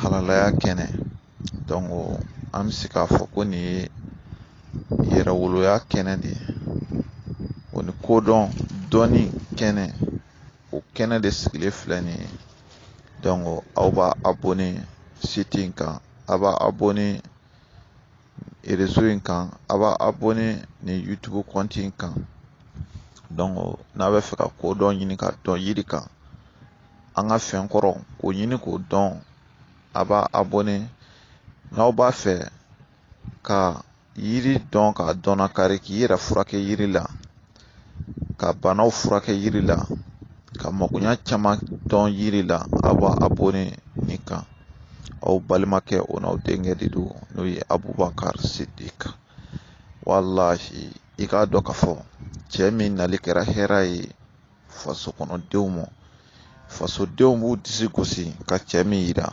halalaya kɛnɛ donc an bɛ se k'a fɔ ko nin ye yɛrɛwoloya kɛnɛ de ye o ni kodɔn dɔnni kɛnɛ o kɛnɛ de sigilen filɛ nin ye donc aw b'a abonné site in kan a b'a abonné erezo in kan a b'a abonné nin youtube kɔnti in kan donc n'a bɛ fɛ ka kodɔn ɲini ka dɔn yiri kan an ka fɛn kɔrɔ k'o ɲini k'o dɔn a b'a abonné n'aw b'a fɛ ka yiri dɔn ka dɔnnakari k'i yɛrɛ furakɛ yiri la ka banaw furakɛ yiri la ka makoɲa caman dɔn yiri la a b'a abonné nin kan aw balimakɛ o n'aw denkɛ de don n'o ye abubakar sidiki walahi i k'a dɔn k'a fɔ cɛ min nali kɛra hɛrɛ ye faso kɔnɔdenw ma fasodenw b'u disi gosi ka cɛ min yira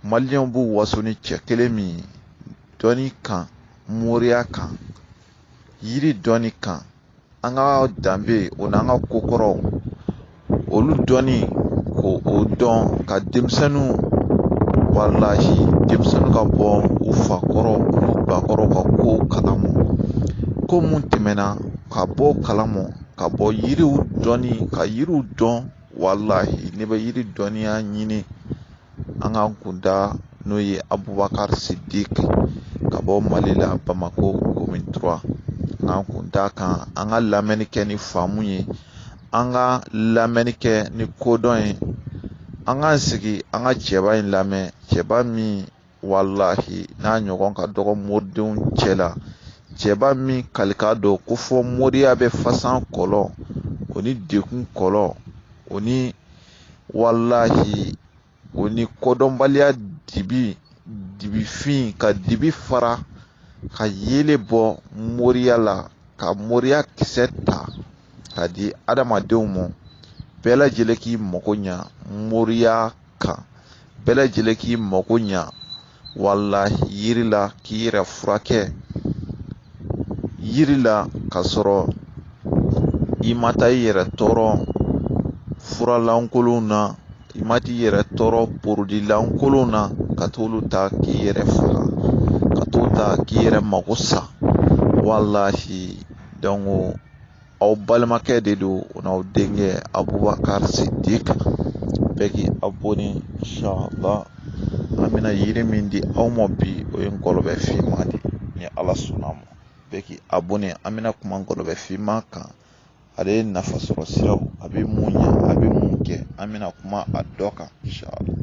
maliyɛnw b'u waso ni cɛ kelen min ye dɔnni kan moriya kan yiri dɔnni kan an ka danbe o n'an ka ko kɔrɔw olu dɔnni ko o dɔn ka denmisɛnninw walahi denmisɛnninw ka bɔ u fakɔrɔ u bakɔrɔ ka ko kalama ko mun tɛmɛna ka bɔ kalama ka bɔ yiriw dɔnni ka yiriw dɔn walahi n'i bɛ yiri dɔnniya ɲini an ka kun da n'o ye abubakar sidiki ka bɔ mali la bamako commune trois an ka kun da kan an ka lamɛnni kɛ ni faamu ye an ka lamɛnni kɛ ni kodɔn ye an k'an sigi an ka cɛba in lamɛn cɛba min walahi n'a ɲɔgɔn ka dɔgɔ moridenw cɛ la cɛba min kalika dɔn ko fɔ moriya bɛ fasan kɔlɔ o ni dekun kɔlɔ o ni walahi o ni kodɔnbaliya dibi dibifin ka dibi fara ka yeelen bɔ moriya la ka moriya kisɛ ta ka di adamadenw ma bɛɛ lajɛlen k'i mago ɲa moriya kan bɛɛ lajɛlen k'i mako ɲa walahi yiri la k'i yɛrɛ furakɛ yiri la ka sɔrɔ i ma taa i yɛrɛ tɔɔrɔ furalankolonw na i ma t'i yɛrɛ tɔɔrɔ porodilankolonw na ka t'olu ta k'i yɛrɛ faga ka t'o ta k'i yɛrɛ mako sa walahi aw balimakɛ de don o n'aw denkɛ abubakari sidik bɛɛ k'i abɔne inshallah an bɛna yiri min di aw ma bi o ye ngɔlɔbɛ finman de ni ala sɔnna ma bɛɛ k'i abɔne an bɛna kuma ngɔlɔbɛ finman kan ale ye nafa sɔrɔ siraw a bɛ mun ɲɛ a bɛ mun kɛ an bɛna kuma a dɔ kan inshallah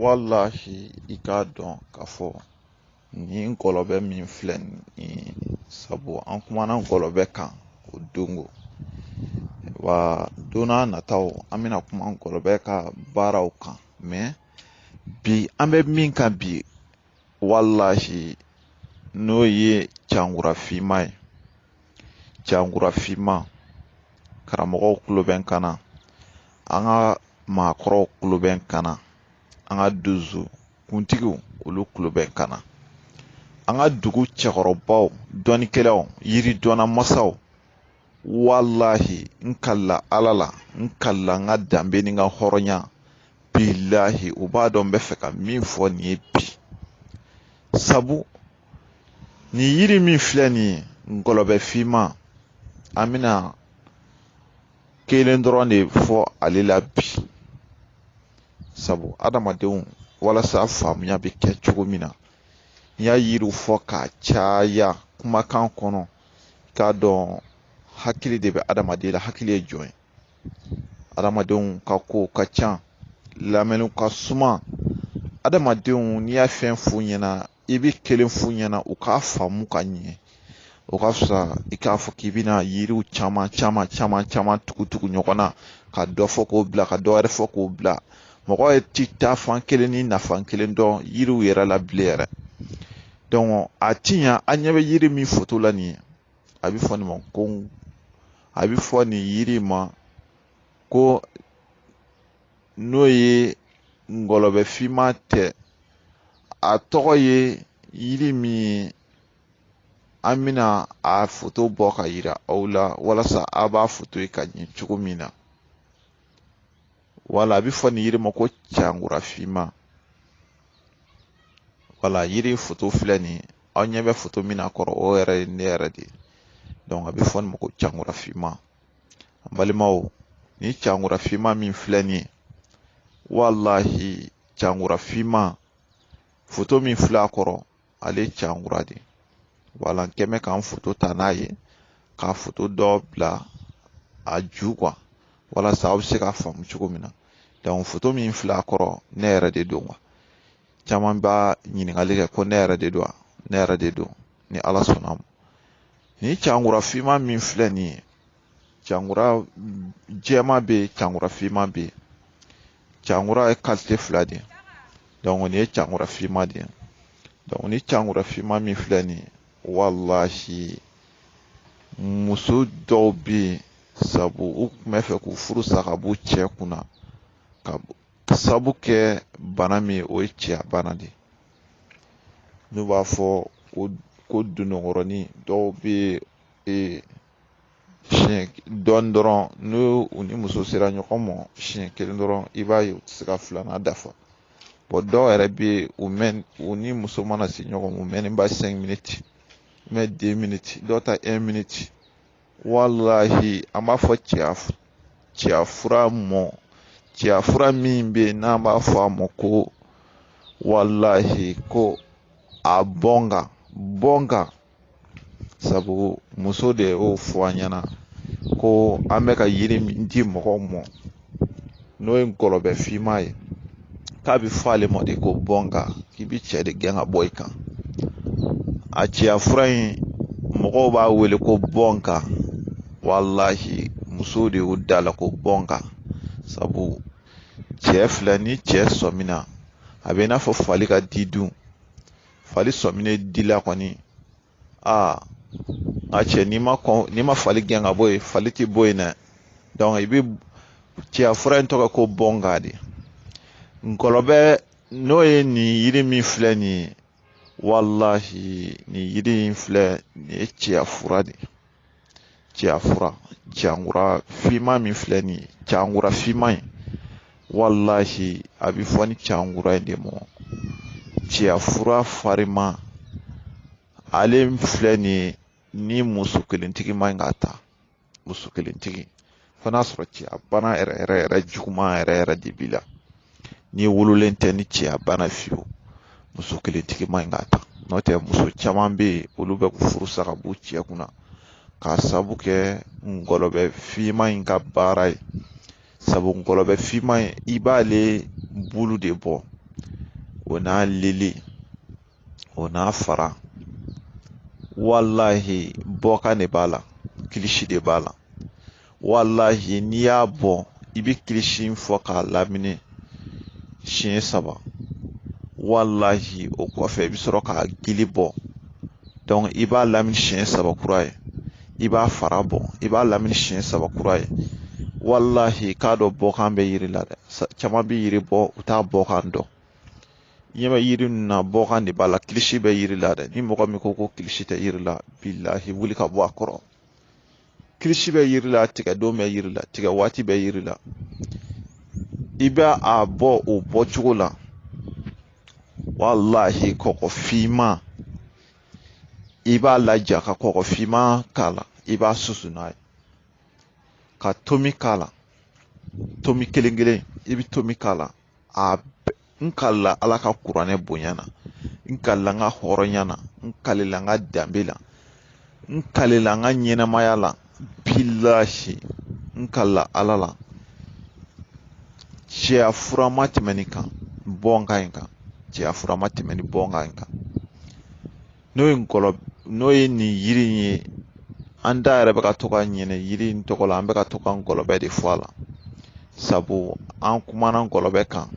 walahi i k'a dɔn k'a fɔ Nin ngɔlɔbɛ min filɛ nin sabu an kumana ngɔlɔbɛ kan o dongo wa don n'a nataw an bɛna kuma ngɔlɔbɛ ka baaraw kan mɛ bi an bɛ min kan bi walahi n'o ye cankura finman ye cankura finman karamɔgɔw kulo bɛ n kan na an ka maakɔrɔw kulo bɛ n kan na an ka donso kuntigiw olu kulo bɛ n kan na an ka dugu cɛkɔrɔbaw dɔnnikɛlaw yiri dɔnna masaw walahi n kalila ala la n kalila n ka danbe ni n ka hɔrɔnya bilahi u b'a dɔn n bɛ fɛ ka min fɔ nin ye bi sabu nin yiri min filɛ nin ye ngɔlɔbɛ finman an bɛna kelen dɔrɔn de fɔ ale la bi sabu adamadenw walasa faamuya bɛ kɛ cogo min na n y'a yiriw fɔ k'a caya kumakan kɔnɔ k'a dɔn hakili de bɛ adamaden la hakili ye jɔn ye adamadenw ka ko ka ca lamɛnw ka suma adamadenw n'i y'a fɛn f'u ɲɛna i bɛ kelen f'u ɲɛna u k'a faamu ka ɲɛ o ka fisa i k'a fɔ k'i bɛna yiriw caman caman caman caman tugu tugu ɲɔgɔn na ka dɔ fɔ k'o bila ka dɔ wɛrɛ fɔ k'o bila mɔgɔ ye ti taafan kelen ni nafan kelen dɔn yiriw yɛrɛ la bilen yɛrɛ dɔnku a ti ɲa an ɲɛ bɛ yiri min foto la nin ye a bɛ fɔ nin ma ko a bɛ fɔ nin yiri ma ko n'o ye ngɔlɔbɛ finman tɛ a tɔgɔ ye yiri min ye an bɛna a foto bɔ ka yira aw la walasa a b'a foto ye ka ɲɛ cogo min na wala a bɛ fɔ nin yiri ma ko cankura finman wala yiri foto filɛ nin ye aw ɲɛ bɛ foto min na kɔrɔ o yɛrɛ ye ne yɛrɛ de ye dɔnku a bɛ fɔ nin ma ko cankura finman an balimaw nin cankura finman min filɛ nin ye walahi cankura finman foto min filɛ a kɔrɔ ale ye cankura de ye wala n kɛmɛ k'an foto ta n'a ye ka foto dɔ bila a ju kan walasa aw bɛ se k'a faamu cogo min na dɔnku foto min filɛ a kɔrɔ ne yɛrɛ de don wa caman b'a ɲininkali kɛ ko ne yɛrɛ de don wa ne yɛrɛ de don ni ala sɔnna ma nin cankura finma min filɛ nin ye cankura jɛma bɛ yen cankura finma bɛ yen cankura ye qualité fila de ye nin ye cankura finma de ye nin cankura finma min filɛ nin ye walahi muso dɔw bɛ yen sabu u tun bɛ fɛ k'u furu sa ka b'u cɛ kunna k'a sabu kɛ bana min o ye cɛya bana de ye n'u b'a fɔ ko ko dononkɔrɔni dɔw bɛ ee siɲɛ dɔɔni dɔrɔn n'u u ni muso sera ɲɔgɔn ma siɲɛ kelen dɔrɔn i b'a ye u tɛ se ka filanan dafa bon dɔw yɛrɛ bɛ yen u mɛn u ni muso mana se ɲɔgɔn ma u mɛnnenba cinq minutes mais deux minutes dɔw ta un minute walahi an b'a fɔ cɛya cɛya fura mɔ cɛya fura min bɛ yen n'an b'a fɔ a ma ko walahi ko a bɔ n kan bɔ n kan sabu muso de y'o fɔ an ɲɛna ko an bɛ ka yiri min di mɔgɔw mɔ n'o ye ngɔlɔbɛ finman ye k'a bɛ fɔ ale ma de ko bɔ n kan k'i bɛ cɛ de gɛn ka bɔ i kan a cɛya fura in mɔgɔw b'a wele ko bɔ n kan walahi muso de y'o da la ko bɔ n kan sabu cɛ filɛ ni cɛ sɔmina a bɛ i n'a fɔ fali ka di dun fali sɔminen dila kɔni aa nka cɛ n'i ma kɔn n'i ma fali gɛn ka bɔ yen fali ti bɔ yen dɛ donc i bi cɛya fura in tɔgɔ ko bɔ n kan de ngɔlɔbɛ n'o ye nin yiri min filɛ nin ye walahi nin yiri in filɛ nin ye cɛya fura de ye cɛya fura cankura finman min filɛ nin ye cankura finman in walahi a bɛ fɔ nin cankura in de mɔ cɛya fura fariman ale filɛ nin ye ni muso kelentigi man ɲi k'a ta muso kelentigi fo n'a sɔrɔ cɛya bana yɛrɛ yɛrɛ yɛrɛ juguman yɛrɛ yɛrɛ de b'i la n'i wololen tɛ ni cɛya bana fiyewu muso kelentigi man ɲi k'a ta n'o tɛ muso caman bɛ yen olu bɛ furu sa ka b'u cɛ kunna k'a sabu kɛ ngɔlɔbɛ finman in ka baara ye sabu ngɔlɔbɛ finman in i b'ale bulu de bɔ o n'a lili o n'a fara walahi bɔkan de b'a la kilisi de b'a la walahi n'i y'a bɔ i bɛ kilisi in fɔ k'a lamini siɲɛ saba walahi o kɔfɛ i bɛ sɔrɔ k'a gili bɔ donc i b'a lamini siɲɛ saba kura ye i b'a fara bɔ i b'a lamini siɲɛ saba kura ye walahi k'a dɔn bɔkan bɛ yiri la dɛ caman bɛ yiri bɔ u t'a bɔkan dɔn ɲɛ bɛ yiri ninnu na bɔkan de b'a la kilisi bɛ yiri la dɛ ni mɔgɔ min ko ko kilisi tɛ yiri la bilahi wuli ka bɔ a kɔrɔ kilisi bɛ yiri la tigɛ don bɛ yiri la tigɛ waati bɛ yiri la i bɛ a bɔ o bɔ cogo la walahi kɔgɔ finman i b'a laja ka kɔgɔ finman k'a la i b'a susu n'a ye ka tomi k'a la tomi kelen kelen i bɛ tomi k'a la a n kalila ala ka kuranɛ bonya na n kalila n ka hɔrɔnya na n kalila n ka danbe la n kalila n ka ɲɛnamaya la bilahi n kalila ala la cɛya fura ma tɛmɛ nin kan bɔnkan in kan cɛya fura ma tɛmɛ nin bɔnkan in kan n'o ye ngɔlɔ n'o ye nin yiri in ye an da yɛrɛ bɛ ka to ka ɲinɛ yiri in tɔgɔ la an bɛ ka to ka ngɔlɔbɛ de fɔ a la sabu an kumana ngɔlɔbɛ kan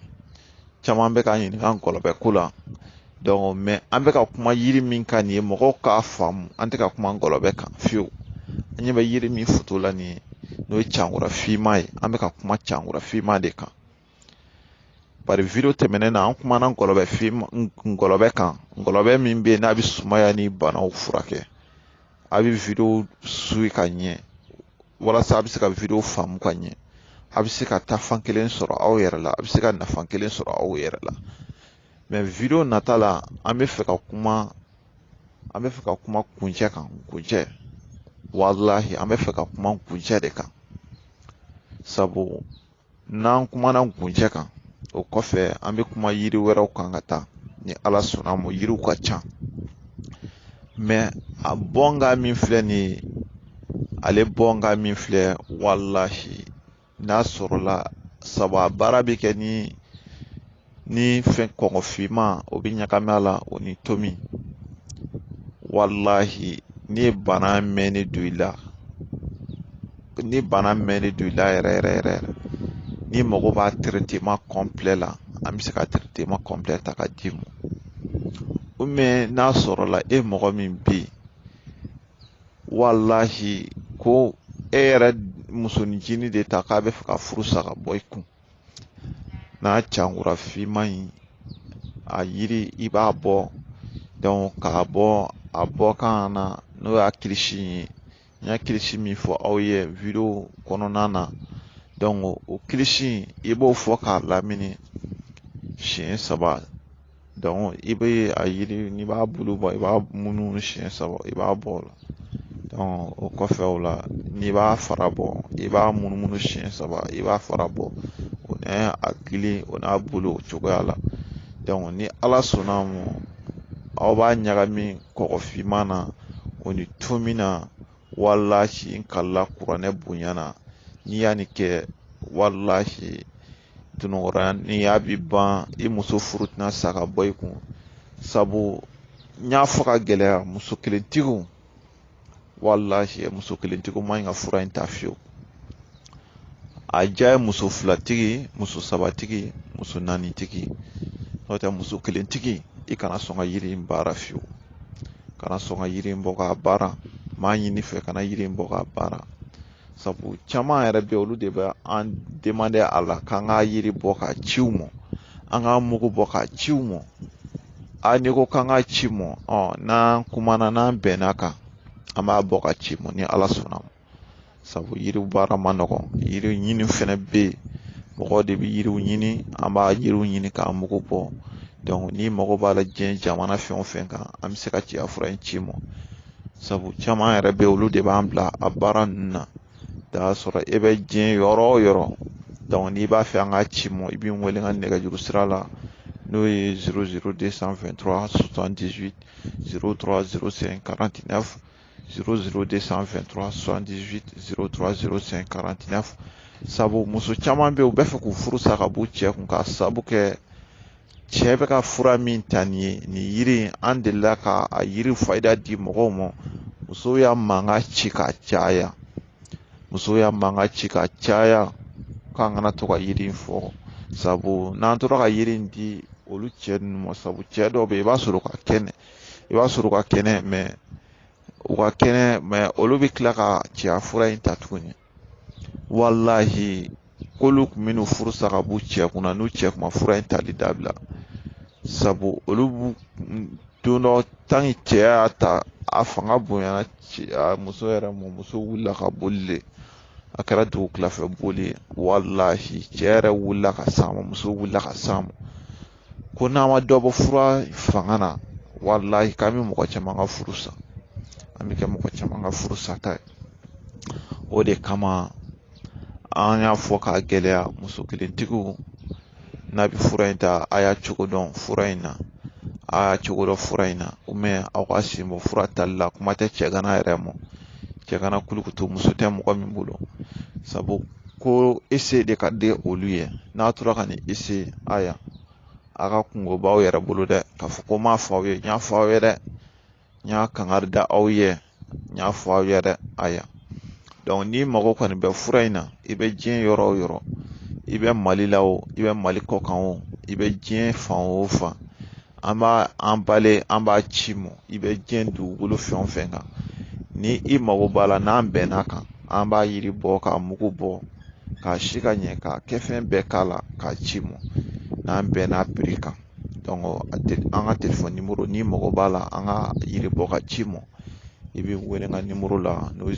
caman bɛ ka ɲininka ngɔlɔbɛ ko la mɛ an bɛ ka kuma yiri min kan nin ye mɔgɔw k'a faamu an tɛ ka kuma ngɔlɔbɛ kan fiyewu an ɲɛ bɛ yiri min foto la nin ye n'o ye cankura finma ye an bɛ ka kuma cankura finma de kan bari video tɛmɛnen na an kumana ngɔlɔbɛ fin ngɔlɔbɛ kan ngɔlɔbɛ min bɛ yen n'a bɛ sumaya ni banaw furakɛ a bɛ video suyi ka ɲɛ walasa a bɛ se ka video faamu ka ɲɛ a bɛ se ka taa fan kelen sɔrɔ aw yɛrɛ la a bɛ se ka nafa kelen sɔrɔ aw yɛrɛ la mɛ video nata la an bɛ fɛ ka kuma an bɛ fɛ ka kuma kuncɛ kan kuncɛ walahi an bɛ fɛ ka kuma kuncɛ de kan sabu n'an kumana kuncɛ kan o kɔfɛ an bɛ kuma yiri wɛrɛw kan ka taa ni ala sɔnna ma yiriw ka ca mɛ a bɔnkan min filɛ nin ye ale bɔnkan min filɛ walahi n'a sɔrɔla sabu a baara bɛ kɛ ni ni fɛn kɔgɔfinma o bɛ ɲagami a la o ni tomi walahi n'i ye bana mɛnni don i la ni bana mɛnni don i la yɛrɛ yɛrɛ yɛrɛ n'i mago b'a traitement complet la an bɛ se ka traitement complet ta ka d'i ma ou bien n'a sɔrɔla e mɔgɔ min bɛ yen walahi ko e yɛrɛ musonin cinin de ta k'a bɛ fɛ ka furu sa ka bɔ i kun n'a cankura finman in a yiri i b'a bɔ donc k'a bɔ a bɔkan na n'o y'a kilisi ye n y'a kilisi min fɔ aw ye video kɔnɔna na donc o kilisi i b'o fɔ k'a lamini siɲɛ saba i bɛ a yiri n'i b'a bulu bɔ i b'a munumunu siɲɛ saba i b'a bɔ o la o kɔfɛ o la n'i b'a fara bɔ i b'a munumunu siɲɛ saba i b'a fara bɔ o n'a a gili o n'a bulu o cogoya la ni ala sɔnna a ma aw b'a ɲagami kɔgɔfinman na o ni tomi na walahi n kalila kuranɛ bonya na n'i y'a nin kɛ walahi tunɔgɔya ni y'a bi ban i muso furu tɛna sa ka bɔ i kun sabu n y'a fɔ k'a gɛlɛya muso kelentigiw walahi muso kelentigiw man ɲi ka fura in ta fiyewu a diya ye muso filatigi muso sabatigi muso naanitigi n'o tɛ muso kelentigi i kana sɔn ka yiri in baara fiyewu kana sɔn ka yiri in bɔ k'a baara n b'a ɲini i fɛ kana yiri in bɔ k'a baara sabu caman yɛrɛ bɛ olu de bɛ an demande a la k'an ka yiri bɔ k'a ci u mɔ an ka mugu bɔ k'a ci u mɔ a n'i ko k'an k'a ci i mɔ ɔ n'an kumana n'an bɛnna a kan an b'a bɔ k'a ci i mɔ ni ala sɔnna ma sabu yiriw baara man nɔgɔn yiri ɲini fɛnɛ bɛ yen mɔgɔw de bɛ yiriw ɲini an b'a yiriw ɲini k'a mugu bɔ n'i mago b'a la diɲɛ jamana fɛn o fɛn kan an bɛ se ka ci a fura in ci i mɔ sabu caman yɛrɛ bɛ olu de b'an bila a baara ninnu na n'a sɔrɔ e bɛ diɲɛ yɔrɔ o yɔrɔ donc n'i b'a fɛ an k'a ci i mɔ i bɛ n wele n ka nɛgɛjuru sira la n'o ye zéro zéro deux cent vingt-trois soixante-dix-huit zéro trois zéro cinq quarante-neuf zéro zéro deux cent vingt-trois soixante-dix-huit zéro trois zéro cinq quarante-neuf sabu muso caman bɛ yen u b'a fɛ k'u furu sa ka b'u cɛ kun k'a sabu kɛ cɛ bɛ ka fura min ta nin ye nin yiri in an delila ka a yiri fayida di mɔgɔw ma musow y'a mankan ci ka caya musow y'a mankan ci ka caya k'an kana to ka yiri in fɔ sabu n'an tora ka yiri in di olu cɛ ninnu ma sabu cɛ dɔw bɛ yen i b'a sɔrɔ u ka kɛnɛ i b'a sɔrɔ u ka kɛnɛ mɛ u ka kɛnɛ mɛ olu bɛ tila ka cɛya fura in ta tuguni walahi k'olu kun bɛ n'u furu sa ka b'u cɛ kunna n'u cɛ kun ma fura in tali dabila sabu olu don dɔ tanki cɛ y'a ta a fanga bonyana muso yɛrɛ mɔ muso wulila ka boli de a kɛra dugukila fɛ boli ye walahi cɛ yɛrɛ wulila ka s'an ma muso wulila ka s'an ma ko n'an ma dɔ bɔ fura fanga na walahi k'an bɛ mɔgɔ caman ka furu sa an bɛ kɛ mɔgɔ caman ka furu sata ye o de kama an y'a fɔ k'a gɛlɛya muso kelentigiw n'aw bɛ fura in ta a y'a cogo dɔn fura in na a y'a cogo dɔn fura in na aw k'aw sen bɔ fura tali la kuma tɛ cɛganan yɛrɛ mɔ cɛganan kulukutu muso tɛ mɔgɔ min bolo sabu ko essayer de ka di olu ye n'a tora ka nin essayer aya a ka kunko b'aw yɛrɛ bolo dɛ k'a fɔ ko n m'a fɔ aw ye n y'a fɔ aw ye dɛ n y'a kangari da aw ye n y'a fɔ aw ye dɛ aya donc n'i mago kɔni bɛ fura in na i bɛ diɲɛ yɔrɔ o yɔrɔ i bɛ mali la o i bɛ mali kɔkan o i bɛ diɲɛ fan o fan an b'a emballer an b'a ci mɔ i bɛ diɲɛ dugukolo fɛn o fɛn kan ni i mago b'a la n'an bɛn'a kan an b'a yiri bɔ k'a mugu bɔ k'a si ka ɲɛ k'a kɛ fɛn bɛɛ k'a la k'a ci mɔ n'an bɛn'a prix kan an ka telefɔni nimɔrɔ n'i mago b'a la an ka yiri bɔ ka ci mɔ i bɛ wele n ka nimɔrɔ la n'o ye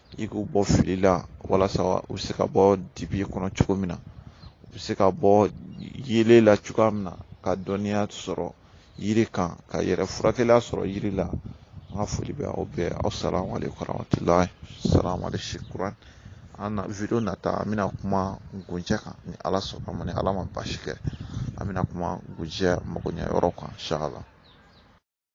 i k'u bɔ fili la walasa u bɛ se ka bɔ dibi kɔnɔ cogo min na u bɛ se ka bɔ yeelen la cogoya min na ka dɔnniya sɔrɔ yiri kan ka yɛrɛ furakɛliya sɔrɔ yiri la an ka foli bɛ aw bɛɛ asalamu aleykum warahmatulahi salamu aleykum an na video nata an bɛna kuma nkunjɛ kan ni ala sɔnn'a ma ni ala ma baasi kɛ an bɛna kuma nkunjɛ magoɲɛ yɔrɔ kan inshallah